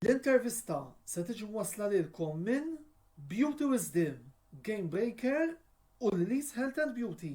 L-intervista se tiġi mwassla lilkom minn Beauty Wisdom, Gamebreaker u Lily's Health and Beauty.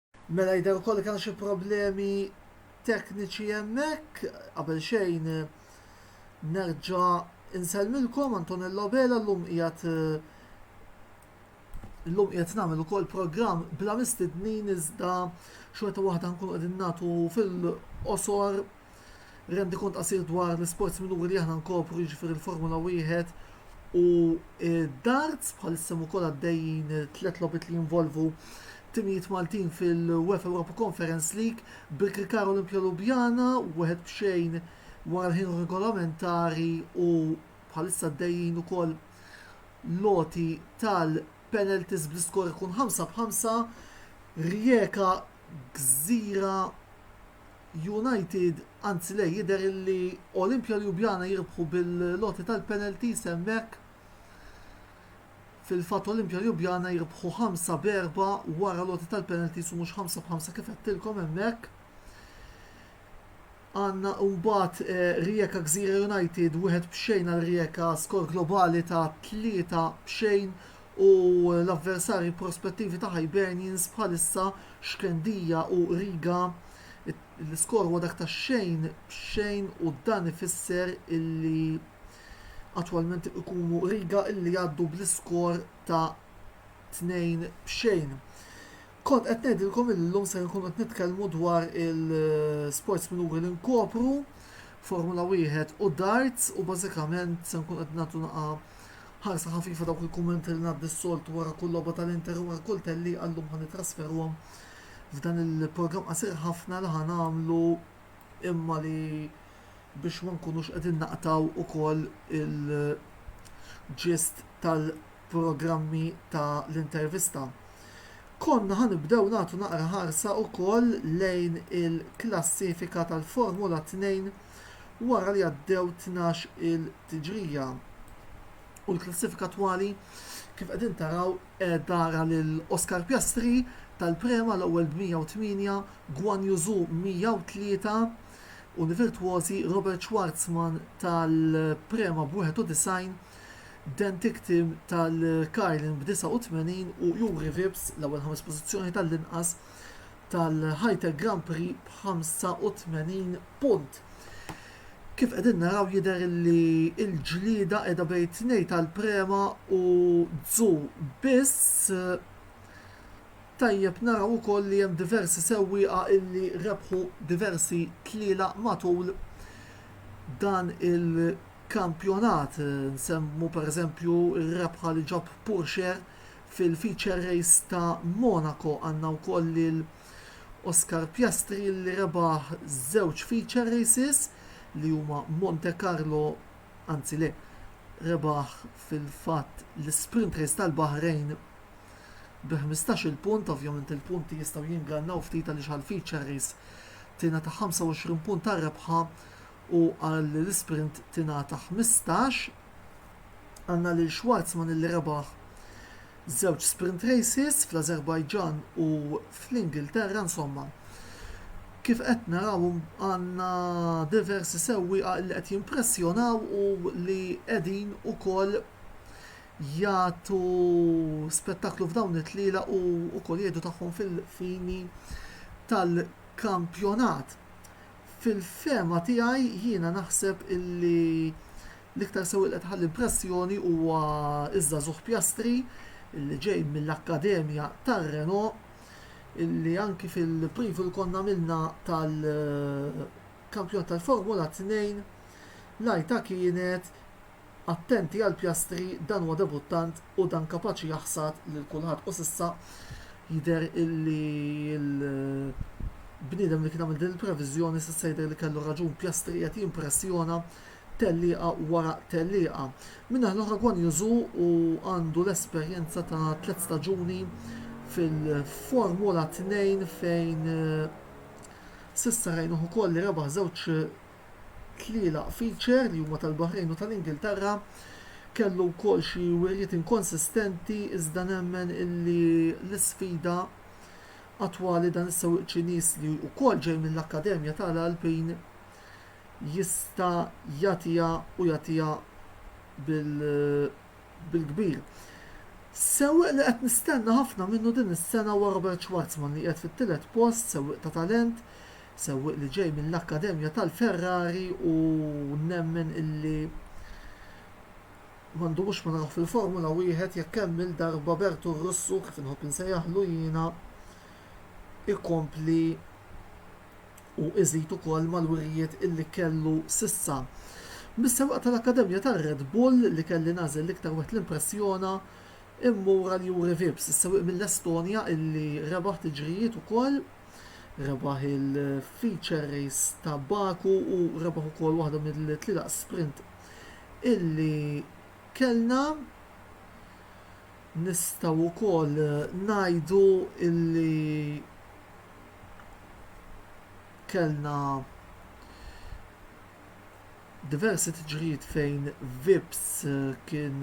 Mela jidher ukoll li kien hemm xi problemi tekniċi hemmhekk. Qabel xejn nerġa' insellmilkom Antonello Lobela llum qiegħed Illum qiegħed nagħmel ukoll programm bla mistednin iżda xorta waħda nkunu qegħdin nagħtu fil-qosor Rendikont qasir dwar l-isports minuri li aħna nkopru, jiġifieri l-Formula Wieħed u d-darts, bħalissa hemm ukoll għaddejjin tliet logħbiet li jinvolvu timijiet Maltin fil-UEFA Europa Conference League, bil-Krikar Olimpija Lubjana wieħed b'xejn wara l-ħin regolamentari u bħalissa għaddejjin ukoll l-għoti tal-penalties bl-iskor ikun 5 b'5, Rijeka Gżira United, anzi le jidher illi Olimpia Ljubljana jirbħu bil-għoti tal-penalties hemmhekk. Fil-fatt Olimpia Ljubljana jirbħu ħamsa b'erba' wara l-għoti tal-penalties u mhux ħamsa b'ħamsa kif għedtilkom hemmhekk. Għandna mbagħad eh, Rijeka Gżira United wieħed b'xejn għal Rijeka skor globali ta' tlieta b'xejn u l-avversarji prospettivi ta' Hibernians bħalissa Xkendija u Riga, l-iskor huwa dak ta' xejn b'xejn u dan ifisser illi attwalment ikunu Riga illi jgħaddu bl-iskor ta' tnejn b'xejn. Kont qed ngħidilkom illi llum ser nkunu qed nitkellmu dwar il-sports minuri li nkopru, Formula Wieħed u darts u bażikament se nkun qed nagħtu naqa' Ħarsa ħafifa dawk il-kummenti li ngħaddi s-soltu wara kull logħba tal-Inter u wara kull tellieqa llum ħa nittrasferuhom f'dan il-programm qasir ħafna li ħa nagħmlu imma li biex ma nkunux qegħdin naqtgħu wkoll il-ġist tal-programmi ta' l-intervista. Konna ħa nibdew nagħtu naqra ħarsa wkoll lejn il-klassifika tal-Formula 2 wara li għaddew tnax il tiġrija u l-klassifika twali kif qegħdin taraw qiegħda ra lil Oscar Piastri tal-Prema l-ewwel b'108, Guan Yu Zhou 103 u l-virtwożi Robert Schwarzman tal-Prema b'91, Dan Ticktum tal-Carlin b'89 u Juri Vips l-ewwel ħames pożizzjoni tal-inqas tal-Hightech Grand Prix b'85 punt. Kif qegħdin naraw jidher li l-ġlieda qiegħda bejn tnej tal-Prema u Dzu biss. Tajjeb naraw ukoll li hemm diversi sewwieqa illi rebħu diversi tliela matul dan il-kampjonat. Nsemmu pereżempju r-rebħa li ġab Purxer Fil-Feature Race ta' Monaco għandna wkoll lil Oscar Piastri li rebaħ żewġ Feature Races li huma Monte Carlo, anzi le, rebaħ fil-fatt l-Sprint Race tal-Baħrejn bi ħmistax-il punt, ovvjament il-punti jistgħu jingannaw ftit għaliex għall-Feature Race tingħata 25 punt għar-rebħa u għall-Sprint tingħata 15. Għandna lil Schwarzman illi rebaħ żewġ sprint races fl-Azerbaijan u fl-Ingilterra insomma kif qed naraw għandna diversi sewwieqa li qed jimpressjonaw u li qegħdin ukoll jagħtu spettaklu f'dawn it-tlielaq u wkoll jgħidu tagħhom fil-fini tal-kampjonat. Fil-fehma tiegħi jiena naħseb illi l-iktar sewwieq li qed iħalli impressjoni huwa ż-żagħżugħ Piastri illi ġej mill-akkademja tar-Renault illi anki fil-preview li konna għamilna tal-kampjonat tal-Formula Tnejn l-għajta kienet attenti għall-pjastri dan huwa debuttant u dan kapaċi jaħsad lil kulħadd u s'issa jidher illi l-bniedem li kien għamel din il-previżjoni s'issa jidher li kellu raġun pjastri qiegħed jimpressjona tellieqa wara tellieqa min-naħa l-oħra Guan Yu Zhou u għandu l-esperjenza ta' tliet staġuni fil-formula 2 fejn s'issa rajnieh ukoll li rebaħ żewġ tlielaq feature li huma tal-Baħrejn u tal-Ingilterra kellu wkoll xi wirjiet inkonsistenti iżda nemmen illi l-isfida attwali dan is-sewwieq Ċiniż li wkoll ġej mill-Akkademja ta' l-Alpine jista' jagħtiha u jagħtiha bil-kbir. Sewwieq li qed nistenna ħafna minnu din is-sena huwa Robert Schwarzman li qiegħed fit-tielet post, sewwieq ta' talent, Sewwieq li ġej mill-akkademja tal-Ferrari u nemmen illi ma ndumux ma narawh fil-Formula Wieħed jekk hemm il-darba Bertu r-Russu, kif inħobb insejjaħlu jiena, ikompli u iżid ukoll mal-wirjiet illi kellu s'issa. Mis-sewwieqa tal-akkademja tar-Red Bull li kelli nagħżel l-iktar wieħed li impressjona, immur għal Juri Vips, is-sewwieq mill-Estonja illi rebaħ tiġrijiet ukoll, Rebaħ il-Feature Race ta' Baku u rebaħ ukoll waħda mill-tlielaq sprint illi kellna. Nistgħu wkoll ngħidu illi kellna diversi tiġrijiet fejn Vips kien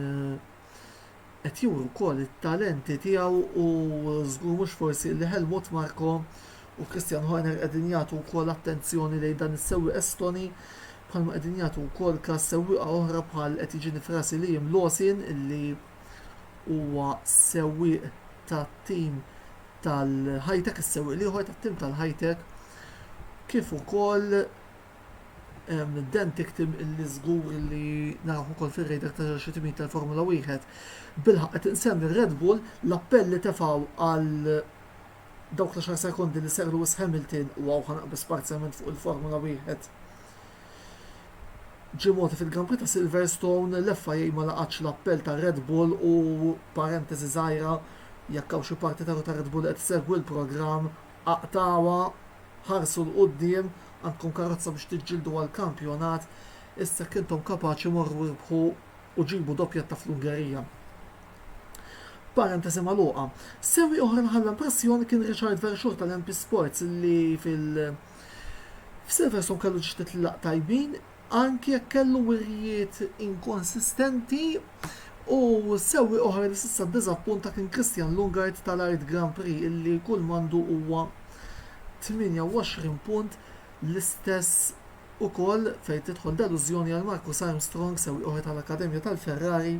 qed juri wkoll it-talenti tiegħu u żgur mhux forsi li Helmut Marko u Christian Horner qegħdin jagħtu wkoll attenzjoni lejn dan is-sewwieq Estoni bħalma qegħdin jagħtu wkoll każ sewwieqa oħra bħal qed jiġini f'rasi Liam Lawson illi huwa sewwieq tat-tim tal-Hitech is-sewwieq l-ieħor tat-tim tal-Hitech kif ukoll Dan tiktim illi żgur li naraw ukoll fir-radar ta' xi timijiet tal-Formula Wieħed. Bilħaq qed insemmi Red Bull l-appell li tefgħu għal dawk l xar sekondi li ser Lewis Hamilton u hawn ħanaqbes parzjalment fuq il-Formula Wieħed. Ġie moti fil-Grand Prix ta' Silverstone l-FIA ma laqatx l-appell ta' Red Bull u parentesi żgħira jekk hawn xi parti ta' Red Bull qed segwi l-programm Aqtgħuha, ħarsu 'l quddiem, għandkom karozza biex tiġġieldu għall-kampjonat, issa jekk intom kapaċi morru irbħu u ġibu doppjetta fl-Ungerija. Parentesi magħluqa. Sewwieq oħra li ħalla impressjoni kien Richard Verschoor tal-MP Sports li fil F'Silverstone kellu ġdid tlaq tajbin, anki jekk kellu wirjiet inkonsistenti u sewwieq oħra li s'issa ddiżappunta kien Christian Lungard tal-Art Grand Prix illi kull m'għandu huwa 28 punt l-istess ukoll fejn tidħol delużjoni għal Marcus Armstrong sewwieq oħra tal-akkademja tal-Ferrari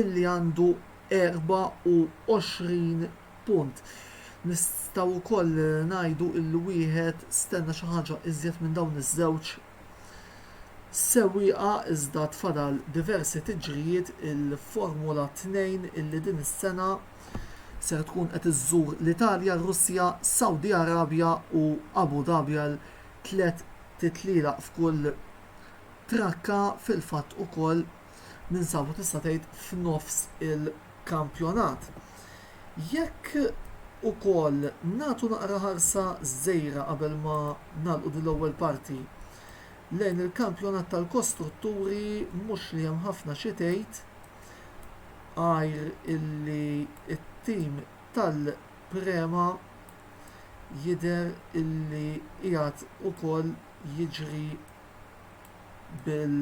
illi għandu 24 Punt. Nistgħu wkoll ngħidu li wieħed stenna xi ħaġa iżjed minn dawn iż-żewġ sewwieqa iżda tfadal diversi tiġrijiet il-Formula 2 illi din is-sena ser tkun qed iżżur l-Italja, r-Russja, Saudi Arabia u Abu Dhabi għal tliet titlielaq f'kull trakka fil-fatt ukoll. ninsabu tista' tgħid f'nofs il-kampjonat. Jekk ukoll nagħtu naqra ħarsa żgħira qabel ma nagħlqu din l-ewwel parti lejn il-kampjonat tal-kostrutturi mhux li hemm ħafna xi tgħid għajr illi t-tim tal-Prema jidher illi qiegħed ukoll jiġri bil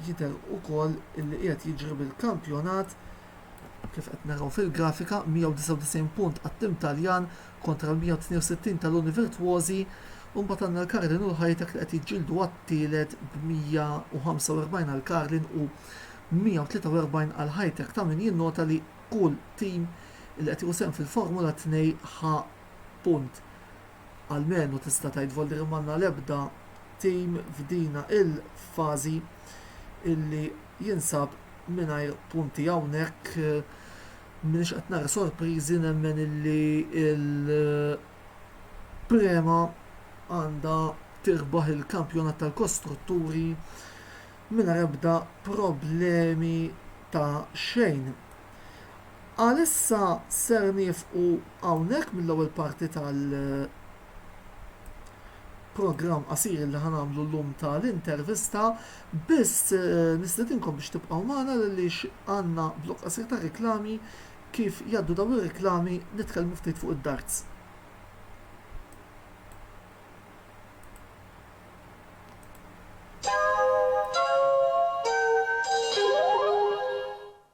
jidher ukoll li qiegħed jiġri bil-kampjonat kif qed naraw fil-grafika 199 punt għat-tim Taljan kontra l-162 tal-Uni Virtuosi u mbagħad għandna l-Karlin u l-Hitech li qed jiġġieldu għat-tielet b'145 għal Karlin u 143 għal Hitech ta' min jinnota li kull tim li qed jieħu sehem fil-Formula 2 ħa punt almenu tista' tgħid volderi m'għandna l-ebda tim f'dina l-fażi li jinsab mingħajr punti hawnhekk m'iniex qed nara sorpriżi nemmen li l-prema għandha tirbaħ il-kampjonat tal-kostrutturi mingħajr ebda problemi ta' xejn. Għalissa ser nieqfu hawnhekk mill-ewwel parti tal programm qasir li ħa nagħmlu llum tal-intervista, biss eh, nistedinkom biex tibqgħu magħna għaliex għandna blok qasir ta' reklami kif jaddu daw ir-reklami nitkellmu ftit fuq id-darts.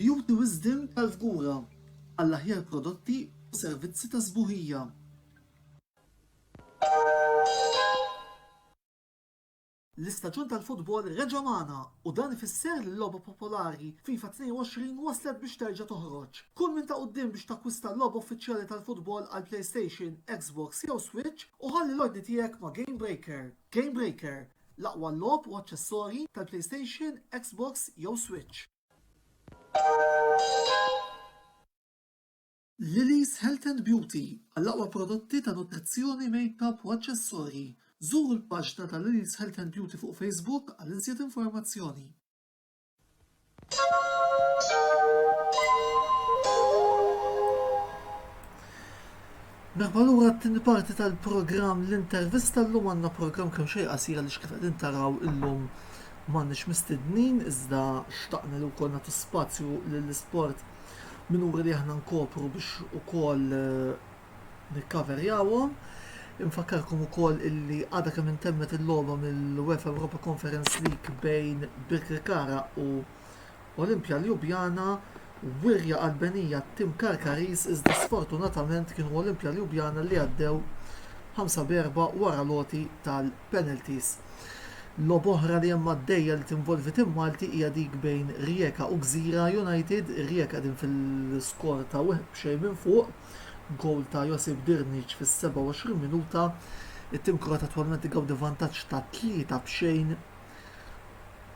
Beauty Wisdom tal-Fgura għall-aħjar prodotti u servizzi ta' sbuħija. L-istaġun tal-futbol reġa' magħna u dan ifisser li l-logħba popolari FIFA 22 waslet biex terġa' toħroġ. Kun minn ta' quddiem biex takkwista l-logħba uffiċjali tal-futbol għall-PlayStation, Xbox jew Switch u ħalli l-ordni tiegħek ma' GameBreaker. GameBreaker, l-aqwa logħob u aċċessorji tal-PlayStation, Xbox jew Switch. Lily's Health and Beauty, Għall-aqwa prodotti ta' nutrizzjoni, makeup u aċċessorji, żuru l-paġna ta' Lily's Health and Beauty fuq Facebook għal iżjed informazzjoni. Merħba lura t-tieni parti tal-programm l-intervista llum għandna programm kemm xejn qasir għaliex kif qegħdin taraw illum m'għandniex mistednin iżda xtaqna li wkoll nagħtu spazju lill-isport minuri li aħna nkopru biex ukoll nikkaverjawhom. Infakkarkom ukoll illi għadha kemm intemmet il-logħba mill-UEFA Europa Conference League bejn Birkirkara u Olimpja Ljubljana wirja qalbenija tim Karkaris iżda sfortunatament kienu Olimpja Ljubljana li għaddew 5 b'erba' wara l-għoti tal-penalties. Logħba oħra li hemm għaddejja li tinvolvi tim Malti hija dik bejn Rijeka u Gżira United. Ir-Rijeka qegħdin fil-skor ta' wieħed b'xejn minn fuq b'gowl ta' Josip Dirnic fis-27 minuta. It-tim Kroat attwalment igawdi vantaġġ ta' tlieta b'xejn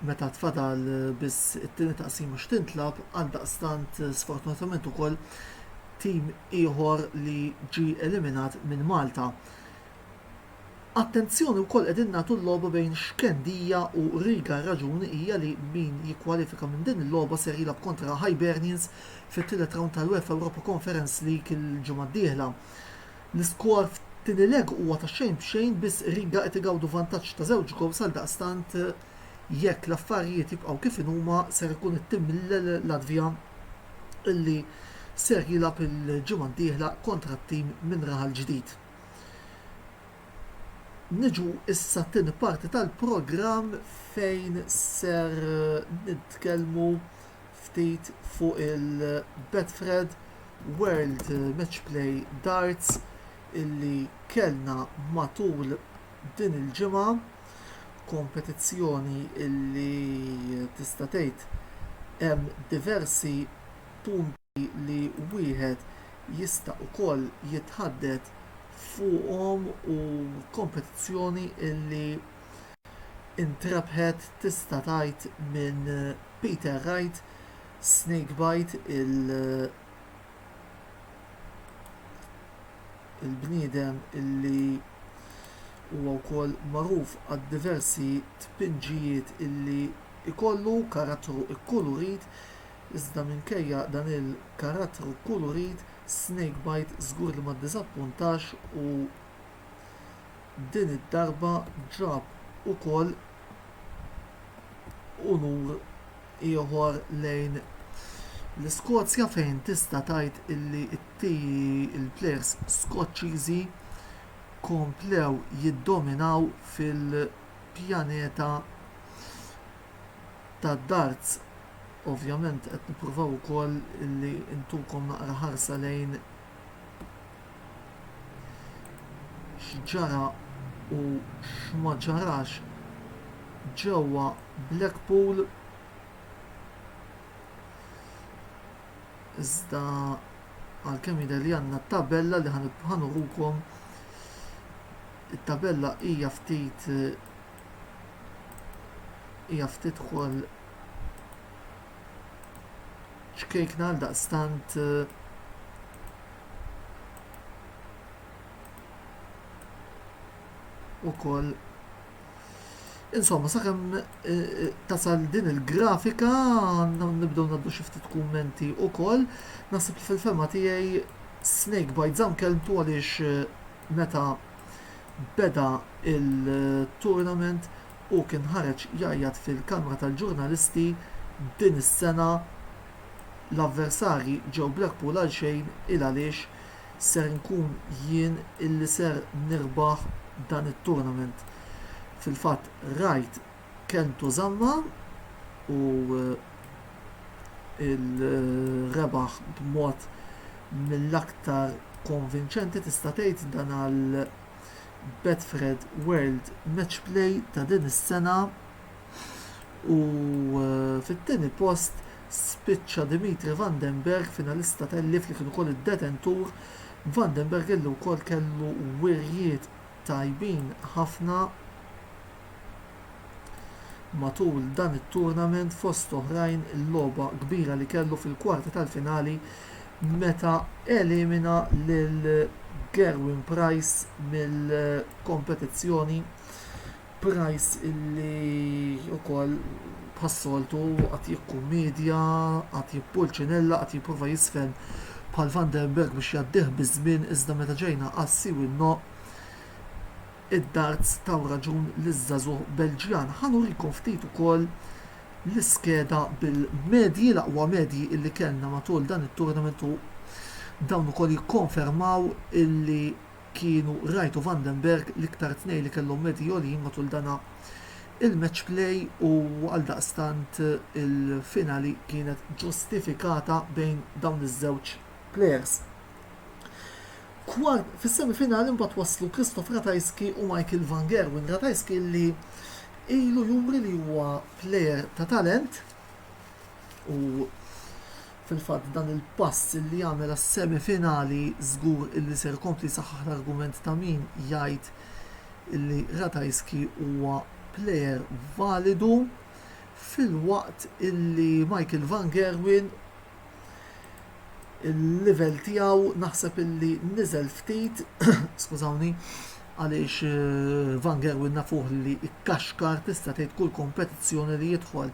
meta tfadal biss it-tieni taqsima x'tintlagħab. Għaldaqstant sfortunatament ukoll tim ieħor li ġie eliminat minn Malta. Attenzjoni wkoll qegħdin nagħtu l-logħba bejn Xkendija u Riga r-raġun hija li min jikkwalifika minn din il-logħba ser jilgħab kontra Hibernians fit-tielet rawnd tal-UEFA Europa Conference League il-ġimgħa d-dieħla. L-iskor f'tieni leg huwa ta' xejn b'xejn biss Riga qed igawdu vantaġġ ta' żewġ gowls għaldaqstant jekk l-affarijiet jibqgħu kif inhuma ser ikun it-tim mill-Latvja li ser jilgħab il-ġimgħa d-dieħla kontra t-tim minn Raħal Ġdid. Niġu issa t-tieni parti tal-programm fejn ser nitkellmu ftit fuq il-Betfred World Match Play Darts illi kellna matul din il-ġimgħa, kompetizzjoni illi tista' tgħid hemm diversi punti. Elementi li wieħed jista' ukoll jitħaddet fuqhom u kompetizzjoni li ntrebħet tista' tgħid minn Peter Wright, Snakebite, il-bniedem li huwa wkoll magħruf għad-diversi tpinġijiet li jkollu, karattru kkulurit. Iżda minkejja dan il-karattru kulurit, Snakebite żgur li ma ddiżappuntax u din id-darba ġab ukoll unur ieħor lejn l-Iskozja fejn tista' tgħid illi l-plejers Skoċċiżi komplew jiddominaw fil-pjaneta tad-darts. Ovvjament qed nippruvaw ukoll li ntukom naqra ħarsa lejn x'ġara u x'ma ġarax ġewwa Blackpool iżda għalkemm jidher li għandna tabella li ħanurukom it-tabella hija ftit hija ftit ukoll ċkejkna għal daqstant eh, u koll Insomma, sakemm eh, eh, tasal din il-grafika, nibdew naddu xi ftit kummenti wkoll, naħseb li fil-fema tiegħi Snake Bite Zam kelmtu għaliex eh, meta beda il-tournament Hu kien ħareġ jgħajjat fil-Kamra tal-Ġurnalisti din is-sena, L-avversarji ġew Blackpool għal xejn il għaliex ser inkun jien illi ser nirbaħ dan it-tournament. Fil-fatt rajt kelmtu żammha u rebaħ b'mod mill-aktar konvinċenti tista' tgħid dan għal Betfred World Matchplay ta' din is-sena u fit-tieni post spiċċa Dimitri Van den Bergh, finalista tal-IF li kien ukoll id-detentur. Van den Bergh illi wkoll kellu wirjiet tajbin ħafna. matul dan it-tournament fost oħrajn il-logħba kbira li kellu fil-kwarti tal-finali meta elimina lil gerwin price mill-kompetizzjoni price li wkoll bħas-soltu qagħad jikkummedja qagħad jippulċinella qagħad jipprova jiżfen bħal van der berg biex jgħaddih biż-żmien iżda meta ġejna għas-siwi n-no Id-darts taw raġun liż-żagħżugħ Belġjan. Ħa nurikom ftit ukoll l-iskeda bil-medji, l-aqwa medji li kellna matul dan it-tournament u dawn ukoll jikkonfermaw illi kienu Wright u Van den Bergh l-iktar tnejn li kellhom medji għoljin matul dan il-match play u għaldaqstant il-finali kienet ġustifikata bejn dawn iż-żewġ players. Kwart, fis-semifinali mbagħad waslu Krzysztof Ratajski u Michael van Gerwen. Ratajski li ilu juri li huwa plejer ta' talent u fil-fatt dan il-pass li jagħmel għas-semifinali żgur illi ser kompli saħħaħ l-argument ta' min jgħid illi Ratajski huwa plejer validu filwaqt illi Michael van Gerwen il-livell tiegħu naħseb illi niżel ftit, skużawni, għaliex eh, Van Gerwen nafuh li ikkaxkar tista' tgħid kull kompetizzjoni li jidħol.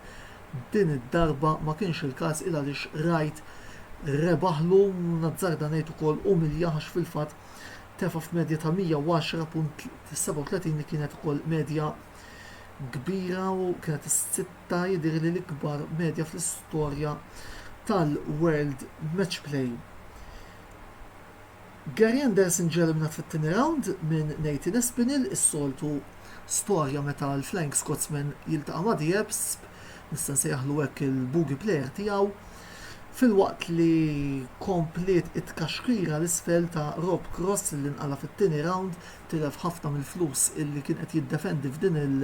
Din id-darba ma kienx il-każ il għaliex rajt rebaħlu nazzarda ngħid ukoll umilja għax fil-fatt tefa' f'medja ta' 110.37 li kienet ukoll medja kbira u kienet ta' jidhirli l-ikbar medja fl-istorja tal-World Matchplay. Gary Anderson ġie eliminat fit-tieni rawnd minn Nathan Espinel, is-soltu storja meta l-Flying Scotsman jiltaqa' ma' Diebsb, nista' nsejjaħlu hekk il-bogey player tiegħu, filwaqt li kompliet it-tkaxkira 'l isfel ta' Rob Cross li nqala' fit-tieni rawnd, tilef ħafna mill-flus illi kien qed jiddefendi f'din il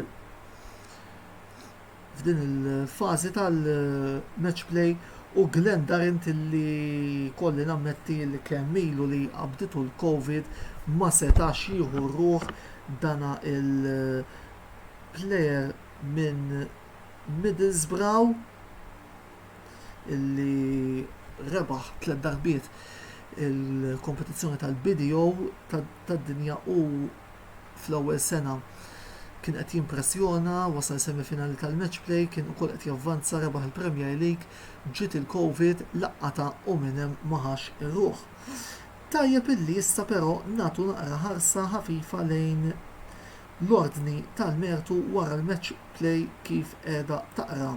f'din il-fażi tal-match play u Glenn Durrant li jkolli nammetti li kemm ilu li qabditu l-Covid ma setax jieħu r-ruħ dan il-player minn Middlesbrough li rebaħ tliet darbiet il-kompetizzjoni tal-BDO tad-dinja u fl-ewwel sena kien qed jimpressjona, wasal semifinali tal-Match Play, kien ukoll qed javvanza, rebaħ il-Premier League, ġiet il-Covid, laqqatha u minn hemm ma ħax ir-ruħ. Tajjeb illi issa però nagħtu naqra ħarsa ħafifa lejn l-ordni tal-mertu wara l-Match Play kif qiegħda taqra.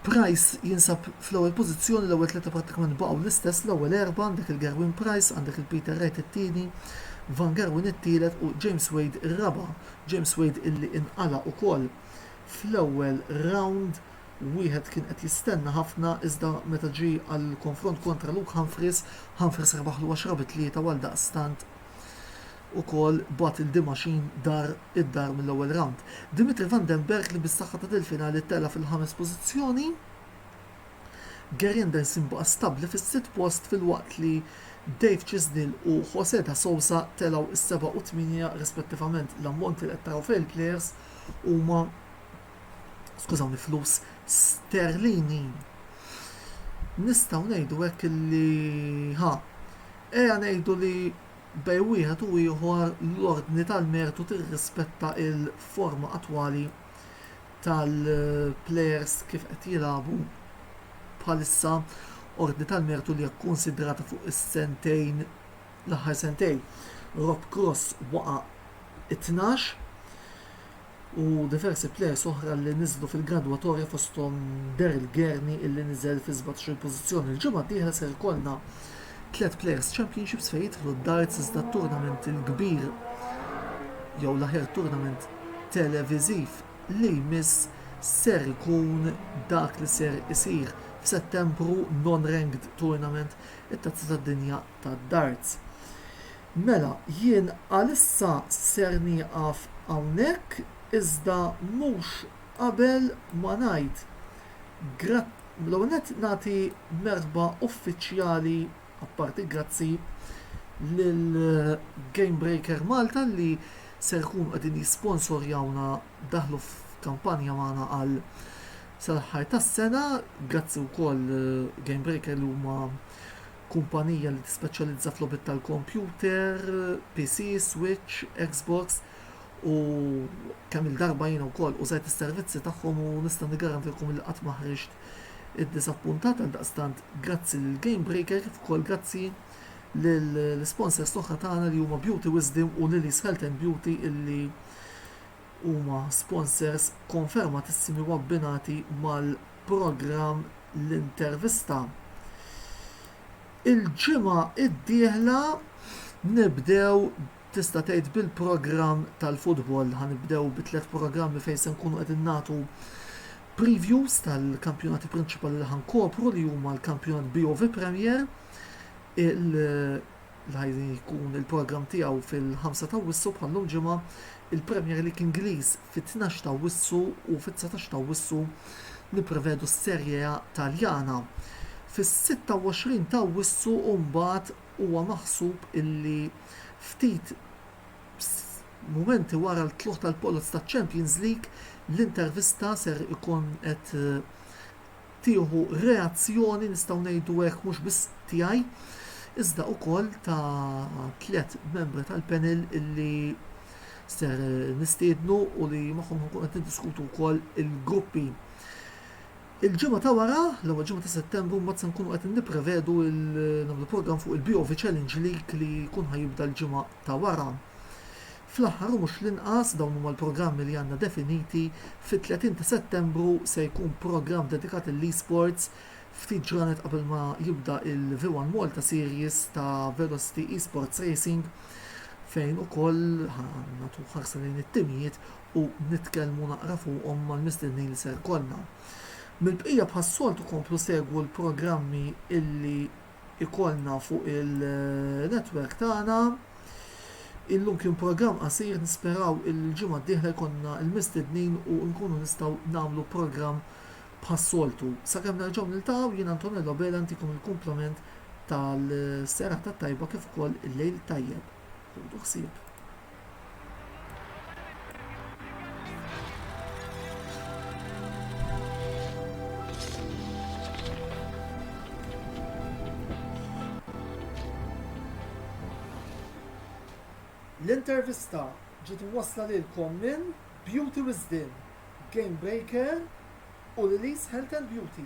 Price jinsab fl-ewwel pożizzjoni, l-ewwel tlieta prattikament baqgħu l-istess, l-ewwel erbgħa għandek il-Gerwyn Price, għandek il-Peter Wright it-tieni, Van Gerwen it-tielet u James Wade ir-raba', James Wade illi inqala' ukoll fl-ewwel rawnd, wieħed kien qed jistenna ħafna iżda meta ġie għall-konfront kontra Luke Humphries, Humphries rebaħlu għaxra bi tlieta u għaldaqstant ukoll bagħat lil Dimaxin dar id-dar mill-ewwel rawnd. Dimitri van den Bergh li bis-saħħa ta' dil-finali tela' fil-ħames pożizzjoni. Gary Anderson baqa' stabbli fis-sitt post filwaqt li Dave Chisnell u Jose da Sousa telgħu is-seba' u t-tmienja rispettivament. L-ammonti li qed taraw f'dawn il-plejers huma, skużawni, flus sterlini. Nistgħu ngħidu hekk li, ha, ejja ngħidu li Bejn wieħed u ieħor, l-ordni tal-mertu tirrispetta l-forma attwali tal-plejers kif qed jilagħbu bħalissa, ordni tal-mertu li hija kkunsidrata fuq is-sentejn, l-aħħar sentejn. Rob Cross waqa' it-tnax. u diversi plejers oħra li niżlu fil-gradwatorja fosthom Daryl Gerney illi niżel fi sbatax-il pożizzjoni. Il-ġimgħa d-dieħla ser ikollna tliet Players Championships fejn jidħlu d-darts iżda t-turnament il-kbir jew l-aħjar turnament televiżiv li jmiss ser ikun dak li ser isir f'Settembru, non-ranked tournament, it-Tazza tad-Dinja tad-Darts. Mela, jien għalissa ser nieqaf hawnhekk iżda mhux qabel ma ngħid gra, l-ewwel nett nagħti merħba uffiċjali, apparti grazzi, lil Gamebreaker Malta li ser ikunu qegħdin jisponsorjawna, daħlu f'kampanja magħna għal sal-aħħar tas-sena, grazzi wkoll Gamebreaker li huma kumpanija li tispeċjalizza f'logħbiet tal-kompjuter, PC, Switch, Xbox u kemm il-darba jiena wkoll użajt is-servizzi tagħhom u nista' niggarantilkom li qatt ma ħriġt iddisappuntat għal daqstant grazzi lil Game Breaker kif ukoll grazzi lill-sponsors l-oħra tagħna li huma Beauty Wisdom u Lily's Health and Beauty illi huma sponsors konfermatissimi u abbinati mal-programm L-Intervista. Il-ġimgħa d-dieħla nibdew tista' tgħid bil-programm tal-futbol. Ħa nibdew bi tliet programmi fejn se nkunu qegħdin nagħtu previews tal-kampjonati prinċipali li ħankopru li huma l-kampjonat BOV Premier, il- l-ħajrin jkun il-programm tiegħu fil-ħamsa ta' Awwissu bħal-lum ġimgħa, il-Premier League Ingliż fit-tnax ta' Awwissu u fit-dsatax ta' Awwissu nipprevedu s-Serie A Taljana. Fis-sitta u għoxrin ta' Awwissu mbagħad huwa maħsub illi ftit mumenti wara l-tlugħ tal-poloz taċ-Champions League l-intervista ser ikun qed tieħu reazzjoni, nistgħu ngħidu hekk, mhux biss tiegħi, iżda wkoll ta' tliet membri tal-panel illi ser nistiednu u li magħhom nkun qed niddiskutu wkoll il-gruppi. Il-ġimgħa ta' wara, l-ewwel ġimgħa ta' Settembru, mbagħad se nkunu qed nipprevedu nagħmlu programm fuq il-BOV Challenge League li jkun ħajibda l-ġimgħa ta' wara. Fl-aħħar u mhux l-inqas, dawn huma l-programmi li għandna definiti, fit-30 ta' Settembru se jkun programm dedikat lill-eSports, ftit ġranet qabel ma jibda il-V one Malta Series ta' Velocity eSports Racing fejn ukoll ħa nagħtu ħarsa lejn it-timijiet u nitkellmu naqra fuqhom mal-mistednin li se jkollna. Mill-bqija bħas-soltu komplu segwu l-programmi illi ikollna fuq il-network tagħna. Illum kien programm qasir, nisperaw illi l-ġimgħa d-dieħla jkollna l-mistednin u nkunu nistgħu nagħmlu programm bħas-soltu. Sakemm nerġgħu niltaqgħu, jien Antonello Bela ntikom il-kumplament tal-serata t-tajba kif ukoll il-lejl tajjeb. Ħudu ħsieb. L-intervista ġiet imwassla lilkom minn Beauty Wisdin, Game Baker u Lily's Health and Beauty.